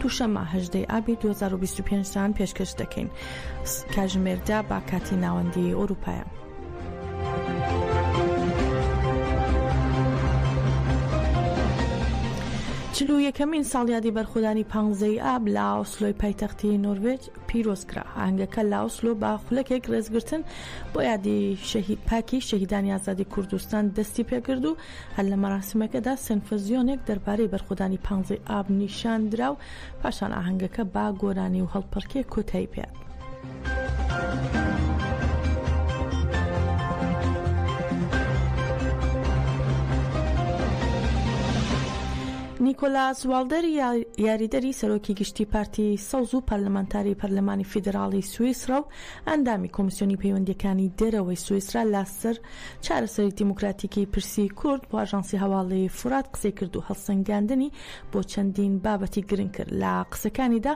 دووشەممە، هەژدە ی ئابی دوو هەزار و بیست و پێنج تان پێشکەش دەکەین. کاژمێر دە بە کاتی ناوەندیی ئورووپایە. چل و یەکەمین ساڵیادی بەرخۆدانی پانزە ی ئاب لە ئۆسلۆی پایتەختی نۆروێج پیرۆز کرا. ئاهەنگەکە لە ئۆسلۆ بە خولەکێک ڕێزگرتن بۆ یادی پاکی شەهیدانی ئازادی کوردستان دەستی پێ کرد و هەر لە مەراسیمەکەدا سێنفزیۆنێک دەربارەی بەرخۆدانی پانزەی ئاب نیشان درا و پاشان ئاهەنگەکە با گۆرانی و هەڵپەڕکێ کۆتایی پێ. نیکۆلاس والدەر یاریدەری سەرۆکی گشتی پارتی سەوز و پەرلەمانتاری پەرلەمانی فیدراڵی سوئیسرا و ئەندامی کۆمیسیۆنی پەیوەندیەکانی دەرەوەی سوئیسرا لاسەر چارەسەری دیموکراتیکی پرسی کورد بۆ ئاژانسی هەواڵی فورات قسەی کرد و هەڵسەنگاندنی بۆ چەندین بابەتی گرنگ کرد. لە قسەکانیدا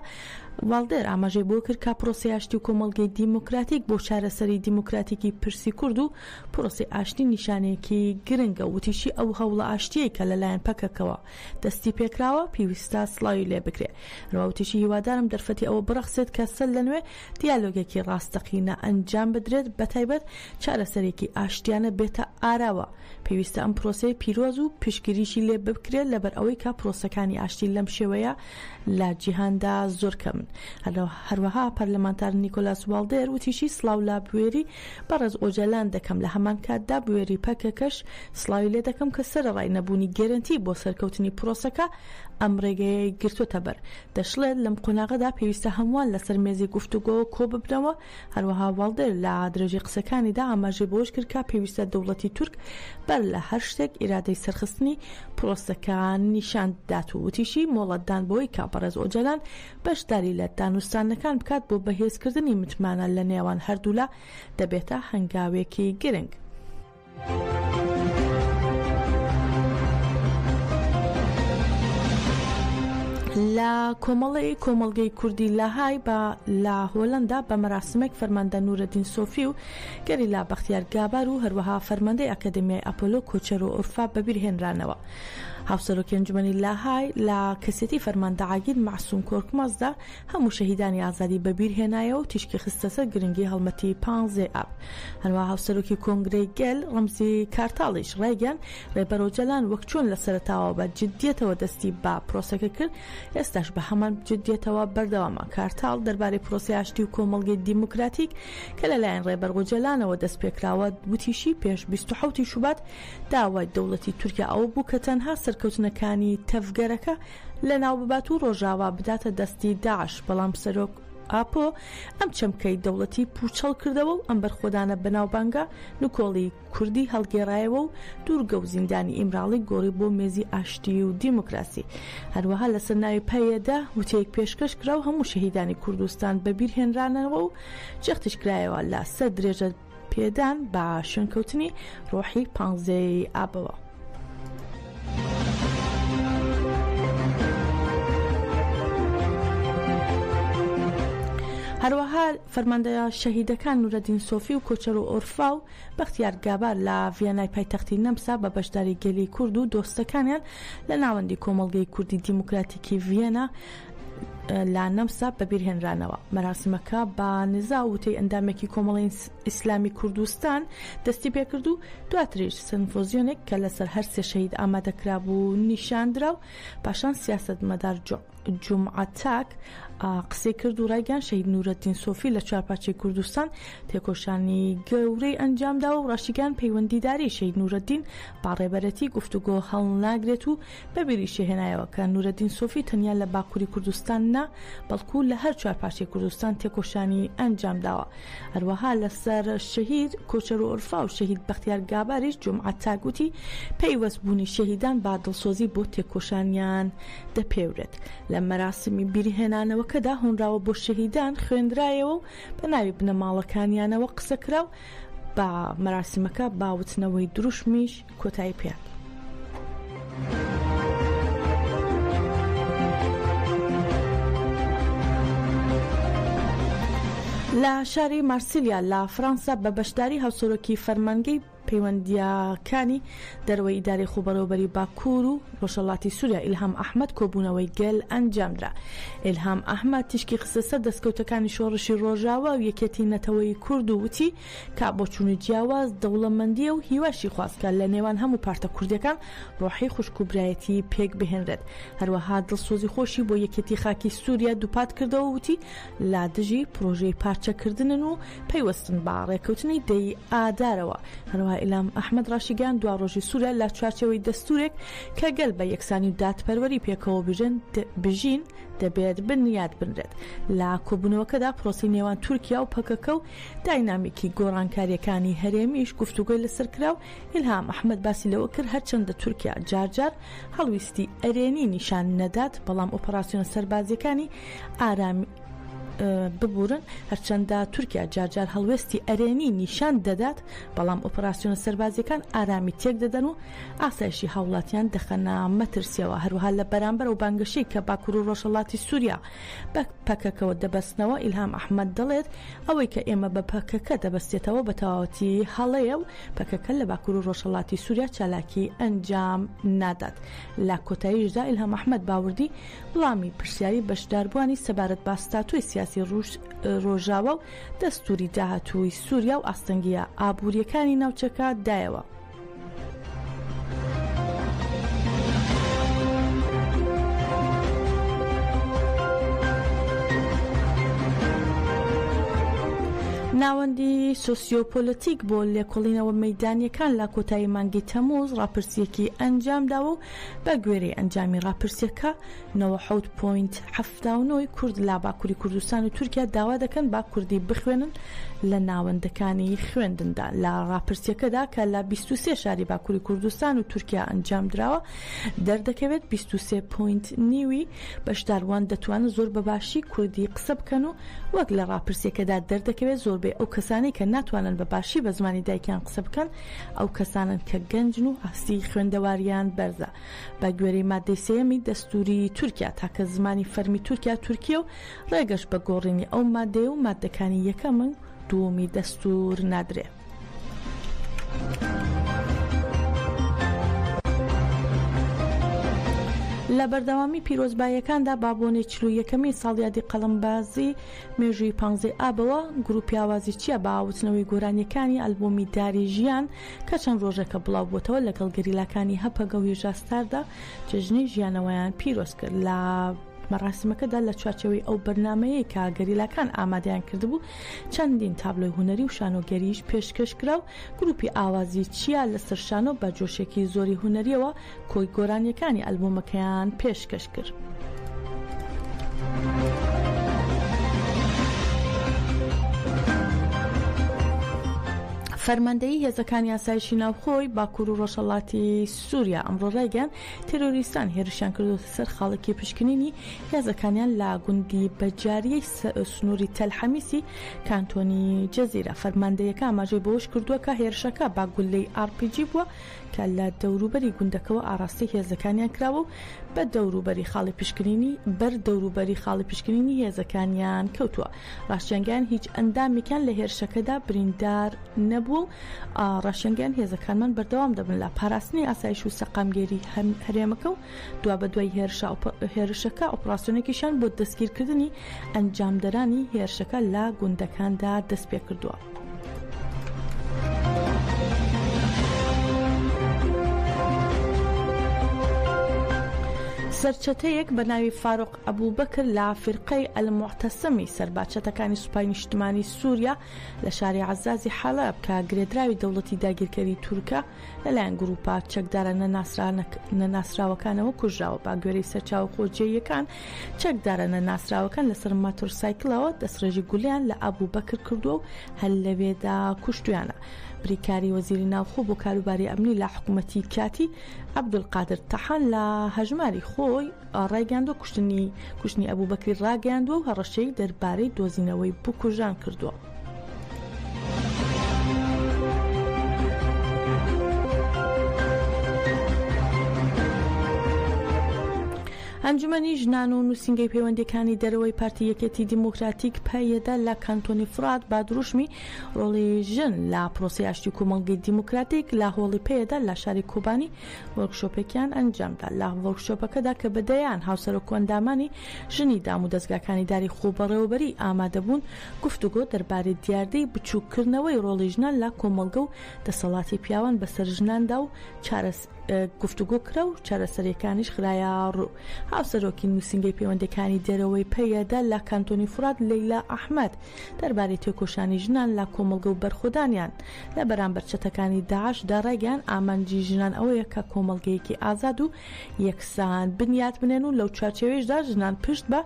والدێر ئاماژەی بۆ کرد کە پرۆسەی ئاشتی و کۆمەڵگەی دیموکراتیک بۆ چارەسەری دیموکراتیکی پرسی کورد و پرۆسەی ئاشتی نیشانەیەکی گرنگە و وتیشی ئەو هەوڵە ئاشتییەی کە لەلایەن پەکەکەوە دەستیپێکراوە پیویستە سڵاوی لێبکرێ. هەروە وتیشی هیوادارم دەرفەتی ئەوە بڕەخسێت کە سەر لەنوێ دیالۆگێکی ڕاستەقینە ئەنجام بدرێت، بەتایبەت چارەسەرێکی ئاشتیانە بێتە ئاراوە، پێویستە ئەم پرۆسەیە پیرۆز و پشتگیریی لێ بکرێت، لەبەرئەوەی کە پرۆسەکانی ئاشتی لەم شێوەیە لە جیهاندا زۆر کەمن. هەروەها پەرلەمانتار نیکۆلاس والدێر وتیشی، سڵاو لە بوێری بەڕێز ئۆجەلان دەکەم، لە هەمان کاتدا بوێری پەکەکەش سڵاوی لێ دەکەم کە سەرەڕای نەبوونی گەرەنتی بۆ سەرکەوتنی پرۆسەکە، ئەم ڕێگەیەی گرتووەتەبەر. دەشڵێت، لەم قۆناغەدا پێویستە هەمووان لەسەر مێزی گفتوگۆوە کۆببنەوە. هەروەها والدێر لە درێژەی قسەکانیدا ئاماژەی بەوەش کرد کە پێویستە دەوڵەتی تورک بەر لە هەر شتێک ئیرادەی سەرخستنی پرۆسەکە نیشان بدات و وتیشی، مۆڵەتدان بەوەی کە بەڕێز ئۆجالان بەشداری لە دانوستاندنەکان بکات بۆ بەهێزکردنی متمانە لە نێوان هەردوولا دەبێتە هەنگاوێکی گرنگ. لە کۆمەڵی کۆمەلگەی کوردی لاهای بە لە هۆلندا بە مەراسمێک فەرماندە نورەدین سۆفی و گەری لا بەختیار گابار و هەروەها فەرماندەی ئەکادمیای ئەپۆلۆ کۆچەر و ئۆرفا بەبیرهێنرانەوە. هاوسەرۆکی ئەنجومەنی لاهای لە کەسێتی فەرماندە عاگیر مەعسوم کۆرکمازدا هەموو شەهیدانی ئازادی بە بیر هێنایەوە و تیشکی خستە سەر گرنگی هەڵمەتی پانزەی ئاب. هەروا هاوسەرۆکی کۆنگرەی گەل، ڕەمزی کارتاڵیش ڕایگەیاند، ڕێبەر ئۆجالان وەک چۆن لە سەرەتاوە بە جددیەتەوە دەستی بە پرۆسەکە کرد، ئێستاش بە هەمان جددیەتەوە بەردەوامە. کارتاڵ دەربارەی پرۆسەی ئاشتی و کۆمەڵگەی دیموکراتیک کە لە لایەن ڕێبەر ئۆجالانەوە دەست پێ کراوە، وتیشی، پێش بیست و حەوت ی شوبات داوای دەوڵەتی تورکیا ئەوە بوو کە تەنها سەرکەوتنەکانی تەڤگەرەکە لەناوببات و ڕۆژاوا بداتە دەستی داعش، بەڵام سەرۆک ئاپۆ ئەم چەمکەی دەوڵەتی پووچەڵ کردەوە و ئەم بەرخۆدانە بەناوبانگە نکۆڵی کوردی هەڵگێڕایەوە و دوورگە و زیندانی ئیمراڵی گۆڕی بۆ مێزی ئاشتی و دیموکراسی. هەروەها لەسەر ناوی پەیەدە وتەیەک پێشکەش کرا و هەموو شەهیدانی کوردستان بەبیرهێنرانەوە و جەختیش کرایەوە لە سەر درێژە پێدان بە شوێنکەوتنی ڕۆحی پانزەیەی ئابەوە. هەروەها فەرماندە شەهیدەکان نورەدین سۆفی و کۆچەر و ئۆرفا و بەختیار گابار لە ڤیانای پایتەختی نەمسا بە بەشداری گەلی کورد و دۆستەکانیان لە ناوەندی کۆمەڵگەی کوردی دیموکراتیکی ڤیەنا لە نەمسا بەبیرهێنرانەوە مەراسمەکە بە نزا وتەی ئەندامێکی کۆمەڵین ئیسلامی کوردستان دەستی پێکرد و دواتریش سنفۆزیۆنێک کە لەسەر هەر سێ شەهید ئامادەکرا بوو نیشاندرا و پاشان سیاست مەدار جمعتاک قسەی کرد و ڕایگەان شەید نورەتین سۆفی لە چوارپاچەی کوردستان تێکۆشانی گەورەی ئەنجامدا و ڕاشیگان پەیوەندیداری شەید نورەدین باڕێبەرەتی گفتوگۆ هەڵناگرێت و بە بیریشی هێنایەوە کە نورەدین سۆفی تەنیا لە باکووری کوردستان نا، بەڵکوو لە هەر چوار پارچەی کوردستان تێکۆشانی ئەنجام داوە. هەروەها لەسەر شەهید کۆچەرو ئورفا و شەهید بەختیار گاباریش جومعە تاک وتی، پەیوەست بوونی شەهیدان بە دڵسۆزی بۆ تێکۆشانیان دەپێورێت. لە مەراسمی بیری هێنانەوەکەدا هۆنراوە بۆ شەهیدان خوێندرایەوە و بە ناوی بنەماڵەکانیانەوە قسە کرا و بە مەراسیمەکە با وتنەوەی دروشمیش کۆتایی پێ. لە شاری مارسیلیا لە فەرەنسا بە بەشداری هاوسۆرۆکی فەرمانگەی پەیوەندیاکانی دەرەوەی ئیداری خوبەرەوبەری باکوور و ڕۆژەڵاتی سووریا ئیلهام ئەحمد کۆبوونەوەی گەل ئەنجامدرا ئلهام ئەحمد تیشکی خستە سەر دەستکەوتەکانی شۆڕشی ڕۆژاوا و یەکێتی نەتەوەی کورد و وتی کە بۆ چوون و جیاواز دەوڵەمەندییە و هیواشی خواست کە لە نێوان هەموو پارتە کوردییەکان ڕۆحی خوشک و برایەتی پێک بهێنرێت. هەروەها دڵسۆزی خۆشی بۆ یەکێتی خاکی سووریا دووپات کردەوە و وتی، لە دژی پڕۆژەی پارچەکردنن و پەیوەستن بە ڕێککەوتنی دە ی ئادارەوە. هەروەها ئیلام ئەحمەد ڕاشیگەیاند، دواڕۆژی سووریا لە چوارچێوەی دەستوورێک کە گەل بە یەکسانی و دادپەروەری پێکەوە بژین، دەبێت بنیات بنرێت. لە کۆبوونەوەکەدا پرۆسەی نێوان تورکیا و پەکەکە و داینامیکی گۆڕانکارییەکانی هەرێمیش گفتوگۆی لەسەر کرا و ئیلهام ئەحمەد باسی لەوە کرد، هەرچەندە تورکیا جار جار هەڵویستی ئەرێنی نیشان نەدات، بەڵام ئۆپەراسیۆنە سەربازییەکانی ئارامی ببورن، هەرچەندە تورکیا جار جار هەڵوێستی ئەرێنی نیشان دەدات، بەڵام ئۆپەراسیۆنە سەربازییەکان ئارامی تێکدەدەن و ئاسایشی هاوڵاتیان دەخەنە مەترسییەوە، هەروەها لە بەرامبەر ئەو بانگەشەی کە باکور و ڕۆژهەڵاتی سوریا، بە پەکەکەوە دەبەستنەوە، ئیلهام ئەحمەد دەڵێت، ئەوەی کە ئێمە بە پەکەکە دەبەستێتەوە بە تەواوەتی هەڵەیە و پەکەکە لە باکور و ڕۆژهەڵاتی سوریا چالاکی ئەنجام نادات. لە کۆتاییشدا ئیلهام ئەحمەد باوردی وڵامی پرسیاری بەشداربووانی سەبارەت بە ستاتۆی سیاسی ڕۆژاوا و دەستوری داهاتووی سوریا و ئاستەنگییە ئابورییەکانی ناوچەکە دایەوە. ناوەندی سۆسیۆپۆلەتیک بۆ لێکۆڵینەوە مەدانیەکان لە کۆتایی مانگی تەموز ڕاپرسیەکی ئەنجامداوە و بە گوێرەی ئەنجامی ڕاپرسیەکە 90.7 داونۆی کورد لە باکوری کوردستان و تورکیا داوا دەکەن با کوردی بخوێنن لە ناوەندەکانی خوێندندا لە ڕاپرسیەکەدا کە لە 23 شاری باکوری کوردستان و تورکیا ئەنجام دراوە دەردەکەوێت 23 پوینت نیوی بەشداروان دەتوانن زۆر بەباشی کوردی قسە بکەن و وەک لە ڕاپرسیەکەدا دەردەکەوێت زۆربەی ئەو کەسانی کە ناتوانن بە باشی بە زمانی دایکیان قسە بکەن ئەو کەسانن کە گەنجن و ئاستی خوێندەواریان بەرزە بە گوێرەی ماددەی سێیەمی دەستووری تورکیا، تاکە زمانی فەرمی تورکیا تورکییە و ڕێگەش بە گۆڕینی ئەو ماددەیە و ماددەکانی یەکەم و دووەمی دەستوور نادرێ. لە بەردەوامی پیرۆزباییەکاندا با بۆنەی چل و یەکەمین ساڵیادی قەڵەمبازی مێژووی پانزەی ئابەوە، گرووپی ئاوازی چیا بە ئاوتنەوەی گۆرانییەکانی ئەلبوومی داری ژیان کە چەند ڕۆژێکە بڵاوبووەتەوە لەگەڵ گەریلاکانی هەپەگە و هیژا ستاردا جێژنەی ژیانەوەیان پیرۆز کرد لە مەراسمەکەدا لە چوارچەوەی ئەو بەرنمەیە کە گەریلاکان ئامادەیان کردبوو چەندین تابلۆی هوەری و شانۆگەریش پێشکەشکرا و گروپی ئاوازی چیا لەسەر شانۆ بە جۆشێکی زۆری هوەریەوە کۆی گۆرانیەکانی ئەلبومەکەیان پێشکەش کرد. فەرماندەیی هێزەکانی ئاسایشی ناوخۆی باکوور و ڕۆژهەڵاتی سووریا ئەمڕۆ ڕایگەیان تێرۆریستان هێرشیان کردوتە سەر خاڵکی پشکنینی هێزەکانیان لا گوندی بەجاریەی سنووری تەلحەمیسی کانتۆنی جەزیرە فەرماندەیەەکە ئاماژەی بەوەش کردووە کە هێرشەکە باگولەی ئاڕپیجی بووە کە لە دەوروبەری گوندەکەوە ئاڕاستەی هێزەکانیان کراوە و بە دەوروبەری خاڵی پشکنینی بەر دەوروبەری خاڵی پشکنینی هێزەکانیان کەوتووە ڕاشیانگەیان هیچ ئەندامێکیان لە هێرشەکەدا بریندار نەبووە و ڕاشیانگەیان هێزەکانمان بەردەوام دەبن لە پاراستنی ئاسایش و سەقامگێری هەرێمەکە و دوابەدوای هێرشە هێرشەکە ئۆپراسیۆنێکیشیان بۆ دەستگیرکردنی ئەنجامدەرانی هێرشەکە لە گوندەکاندا دەست پێ کردووە. سەرچەتەیەک بە ناوی فاروق ئەبوو بەکر لە فرقەی ئەلمعتەسەمی سەرباچەتەکانی سوپای نیشتمانی سووریا لە شاری عزازی حەڵب کە گرێدراوی دەوڵەتی داگیرکەری تورکە لەلایەن گرووپە چەکدارە نەناسراوەکانەوە کوژراوە باگوێرەی سەرچاوە خۆجێیەکان چەکدارە نەناسراوەکان لەسەر ماتۆرسایکلەوە دەستڕێژی گولیان لە ئابوو بەکر کردووە و هەل لەوێدا کوشتویانە بریکاری وەزیری ناوخۆ بۆ کاروباری ئەمنی لە حکوومەتی کاتی عبدولقادر تەحان لە هەژماری خۆی ڕایگەاندۆ کوشتنی کوشتنی ئەبوو بەکری ڕاگەیاندووە و هەڕەشەی دەربارەی دۆزینەوەی بکوژان کردووە. ئەنجومەنی ژنان و نووسنگەی پەیوەندەکانی دەرەوەی پارتی یەکێتی دیموکراتیک پەیەدە لە کانتۆنی فرات با دروشمی ڕۆڵی ژن لە پرۆسی ئاشتی کۆمەڵگەی دیموکراتیک لە هۆڵی پەیەدە لە شاری کۆبانی وەرکشۆپێکیان ئەنجامدا لە وەرکشۆپەکەدا کە بەدەیان هاوسەرۆکۆندامانی ژنی دام و دەستگاکانی داری خۆبەڕێوەبەری ئامادەبوون گفتوگۆ دەربارەی دیاردەی بچووککردنەوەی ڕۆڵی ژنان لە کۆمەڵگە و دەسەڵاتی پیاوان بەسەر ژناندا و گفتوگۆ کرا و چارەسەرییەکانیش خرایەڕوو. هاوسەرۆکی نووسینگەی پەیوەندییەکانی دەرەوەی پەیەدە لە کانتۆنی فورات لەیلا ئەحمەد دەربارەی تێکۆشانی ژنان لە کۆمەڵگە و بەرخۆدانیان لە بەرامبەر چەتەکانی داعشدا ڕایگەیاند ئامانجی ژنان ئەوەیە کە کۆمەڵگەیەکی ئازاد و یەکسان بنیاتبنێن و لەو چوارچێوەیشدا ژنان پشت بە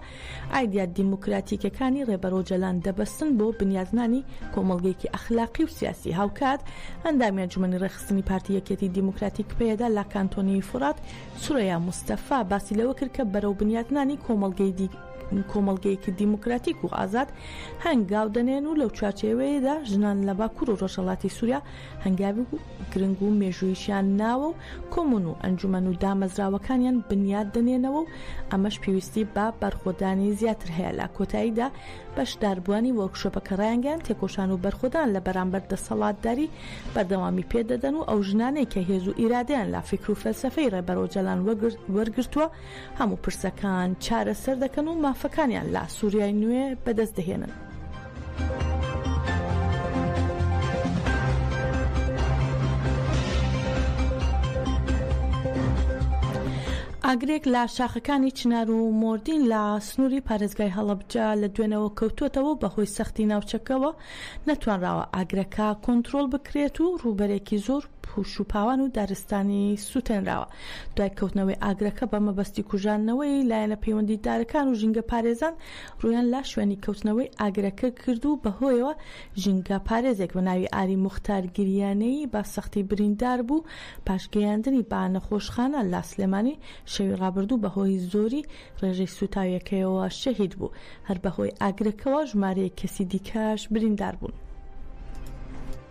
ئایدیا دیموکراتیکەکانی ڕێبەر ئۆجەلان دەبەستن بۆ بنیاتنانی کۆمەڵگەیەکی ئەخلاقی و سیاسی. هاوکات ئەندامی ئەنجومەنی ڕێکخستنی پارتی یەکێتی دیموکراتیک پەیەدە لە کانتۆنیی فورات، سورەیا موستەفا باسی لەوە کرد کە بەرەو بنیاتنانی کۆمەڵگەی کۆمەڵگەیەکی دیموکراتیک و ئازاد هەنگاو دەنێن و لەو چوارچێوەیەدا ژنان لە باکوور و ڕۆژهەڵاتی سوریا هەنگاوی گرنگ و مێژووییشیان ناوە و کۆمون و ئەنجومەن و دامەزراوەکانیان بنیات دەنێنەوە و ئەمەش پێویستی بە بەرخۆدانی زیاتر هەیە لە کۆتاییدا بەشداربووانی وۆرکشۆپەکە ڕایانگەیاند تێکۆشان و بەرخۆدان لە بەرامبەر دەسەڵاتداری بەردەوامی پێدەدەن و ئەو ژنانەی کە هێز و ئیرادەیان لە فیکر و فەلسەفەی ڕێبەر ئۆجالان وەرگرتووە هەموو پرسەکان چارەسەر دەکەن و مافەکانیان لە سووریای نوێ بەدەست دەهێنن. ئاگرێک لە شاخەکانی چنار و مۆردین لە سنووری پارێزگای هەڵەبجە لە دوێنەوە کەوتوتەوە و بەهۆی سەختی ناوچەکەوە نەتوانراوە ئاگرەکە کۆنتترۆل بکرێت و ڕووبەرێکی زۆر پوش و پاوان و دارستانی سوتێنراوە دوای کەوتنەوەی ئاگرەکە بە مەبەستی کوژاندنەوەی لایەنە پەیوەندیدارەکان و ژینگە پارێزان ڕویان لا شوێنی کەوتنەوەی ئاگرەکە کرد و بەهۆیەوە ژینگە پارێزێک بە ناوی ئاری موختار گریانەیی بە سەختی بریندار بوو پاش گەیاندنی بە نەخۆشخانە لە سلێمانی شەوی ڕابردوو بەهۆی زۆری ڕێژەی سوتاویەکەیەوە شەهید بوو هەر بەهۆی ئاگرەکەوە ژمارەیەک کەسی دیکەش بریندار بوون.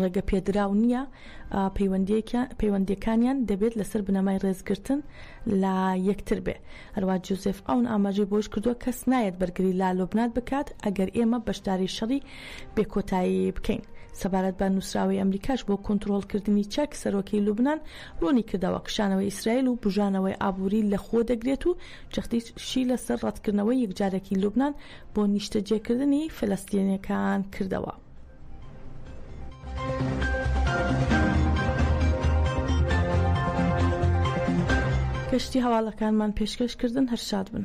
ڕێگەپێدراو نییە، پەیوەندییەکانیان دەبێت لەسەر بنەمای ڕێزگرتن لە یەکتر بێ. هەروا جوزێف ئاون ئاماژەی بەوەش کردووە، کەس نایەت بەرگری لە لوبنان بکات ئەگەر ئێمە بەشداری شەڕی بێکۆتایی بکەین. سەبارەت بە نووسراوەی ئەمریکاش بۆ کونتڕۆڵکردنی چەک، سەرۆکی لوبنان ڕوونی کردەوە، کشانەوەی ئیسرائیل و بوژانەوەی ئابووری لەخۆ دەگرێت و جەختیشی لەسەر ڕەتکردنەوەی یەکجارەکی لوبنان بۆ نیشتەجێکردنی فەلەستینییەکان کردەوە. کەشتی هەواڵەکانمان پێشکەش کردن هەر شاد بن.